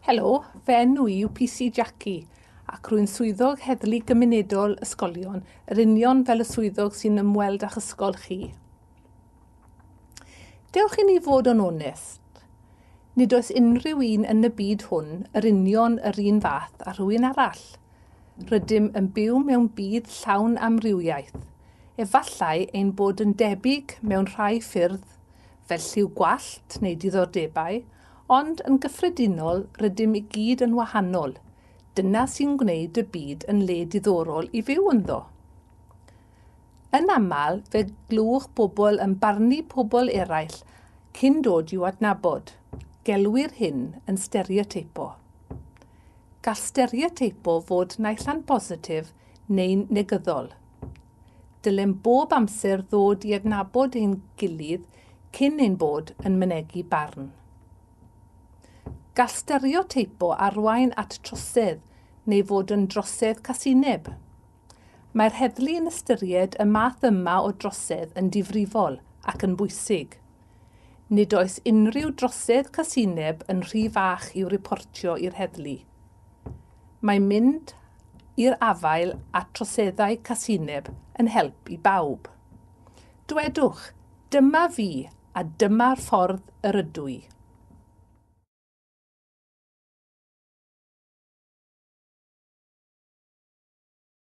Helo, fy enw i yw PC Jackie ac rwy'n swyddog heddlu gymunedol ysgolion, yr union fel y swyddog sy'n ymweld â'ch ysgol chi. Dewch i ni fod yn onest. Nid oes unrhyw un yn y byd hwn yr union yr un fath â rhywun arall. Rydym yn byw mewn byd llawn amrywiaeth. Efallai ein bod yn debyg mewn rhai ffyrdd, fel lliw gwallt neu diddordebau, ond yn gyffredinol rydym i gyd yn wahanol. Dyna sy'n gwneud y byd yn le diddorol i fyw ynddo. Yn aml, fe glywch bobl yn barnu pobl eraill cyn dod i'w adnabod. Gelwir hyn yn stereoteipo. Gall stereoteipo fod naill ai'n bositif neu'n negyddol. Dylem bob amser ddod i adnabod ein gilydd cyn ein bod yn mynegi barn. Gall stereoteipo arwain at trosedd neu fod yn drosedd casineb. Mae'r heddlu yn ystyried y math yma o drosedd yn difrifol ac yn bwysig. Nid oes unrhyw drosedd casineb yn rhy fach i'w riportio i'r heddlu. Mae mynd i'r afael â troseddau casineb yn help i bawb. Dwedwch, Dyma fi a dyma'r ffordd yr ydw i.